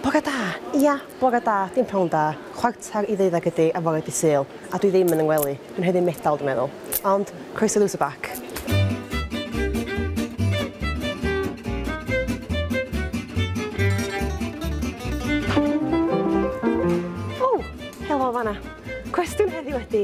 Bore da! Ia, bore da, dim pnawn da. Chwarter i ddeuddeg ydi ar fore dydd Sul, a dwi ddim yn yng ngwely. Dwi'n heavy metal, dwi'n meddwl. Ond, croeso i Lose a Back. Ww! Helo o fan'na. Cwestiwn heddiw ydi,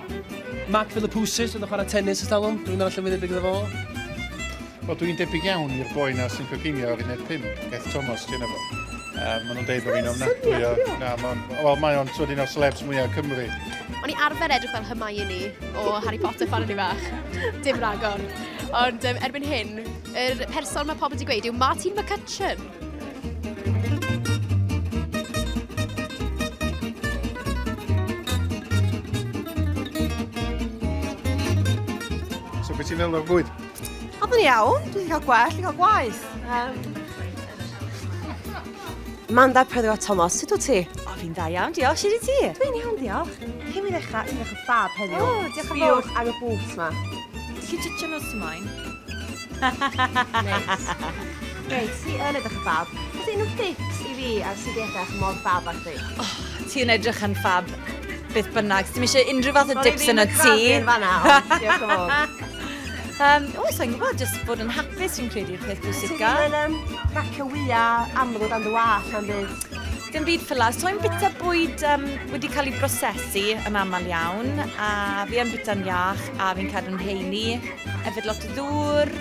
Mark Philippoussis oedd yn chwarae tennis ers talwm, dwi'n meddwl llefydd gyda fo. Wel, dwi'n debyg iawn i'r boi na sy'n coginio ar uned 5, Beth Thomas, ti'n efo. Um, maen nhw'n deud bod fi'n ofnadwy o... Na, mae'n... Wel, mae o'n twyd un o'r celebs mwyaf Cymru. O'n i arfer edrych fel Hermione o Harry Potter pan o'n i fach. Dim ragor. Ond um, erbyn hyn, yr er person mae pobl wedi gweud yw Martin McCutcheon. So beth ti'n meddwl o'r bwyd? Oedd yn iawn, dwi'n cael gwell, dwi'n cael gwaith. Um, Manda Pedro Thomas, sut wyt ti? O, fi'n dda iawn, diolch. Sut i ti? Dwi'n iawn, diolch. Cyn mi ddechrau, ti'n ddechrau ffab heddiw. O, diolch yn fawr. Diolch ar y bwt ma. Ti'n chi'n titio nos ymlaen? Neis. Reit, ti yn edrych yn ffab. Oes unrhyw tips i fi ar sut i edrych mor ffab â chdi? Oh, ti yn edrych yn ffab. Beth bynnag, ti ddim eisiau unrhyw fath o dips yn y tŷ. Sori, fi'n fanna, ond diolch yn fawr. Um, o, sa'n gwybod, jyst bod yn hapus sy'n credu i'r peth bwysica. Ti'n um, racio wya amrwd am dy wall am byd? Dim byd ffylas. To'n bita bwyd um, wedi cael ei brosesu yn aml iawn, a fi yn bita'n iach, a fi'n cadw'n heini. Efyd lot o ddŵr,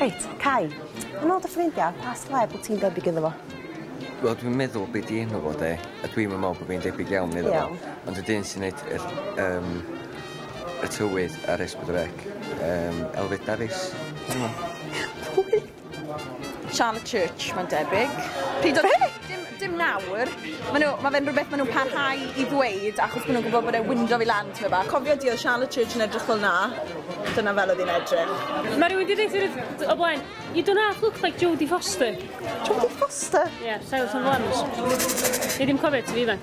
Reit, Cai, yn ôl dy ffrindia, pa seleb wt ti'n debyg iddo fo? Wel dwi'n meddwl be' 'di enw fo 'de a dwi'm yn me'wl bo' fi'n debyg iawn iddo fo. Iawn. Ond y dyn sy'n neud yr yym y tywydd ar Esbyd y Fek yym Elfed Dafis. Pwy? Charlotte Church, mae'n debyg. Pryd oedd... Be? Dim, dim nawr. Mae nhw, ma fe'n rhywbeth maen nhw'n parhau i ddweud achos maen nhw'n gwybod bod e'n window i lan tyma bach. Cofio di oedd Charlotte Church yn edrych fel na? Dyna fel oedd hi'n edrych. Mae rhywun wedi dweud hyn o blaen. You do not look like Jodie Foster. Jodie Foster? Ie, yeah, Silence on the Lambs. Ni ddim cofio ti fi, man.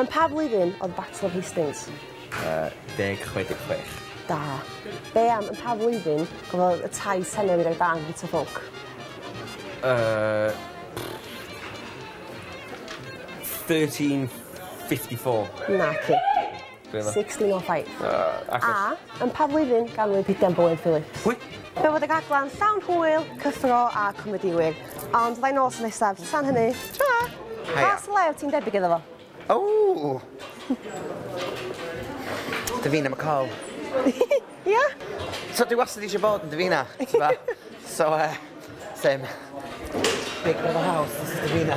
Yn pa flwyddyn oedd Battle of Hastings? Yy, deg chwe deg chwech. Da. Be am yn pa flwyddyn cafodd y tai Senewydd ei barn gyda ffwc? Yy, 1354. Naci. 1605. Yy agos. A. Yn pa flwyddyn ganwyd Pidgan Bowen Phillips? Pwy? Fe fod y rhaglen llawn hwyl, cyffro a comedïwyr. Ond fydda i nôl wsnos nesaf. Tan hynny, tara! Haia. Pa syllau wyt ti'n debyg iddo fo? Ww! Davina McCall. Ia? So dwi wastad eisiau bod yn Davina, t'bo'? So yy same. Big brother house, this is Davina.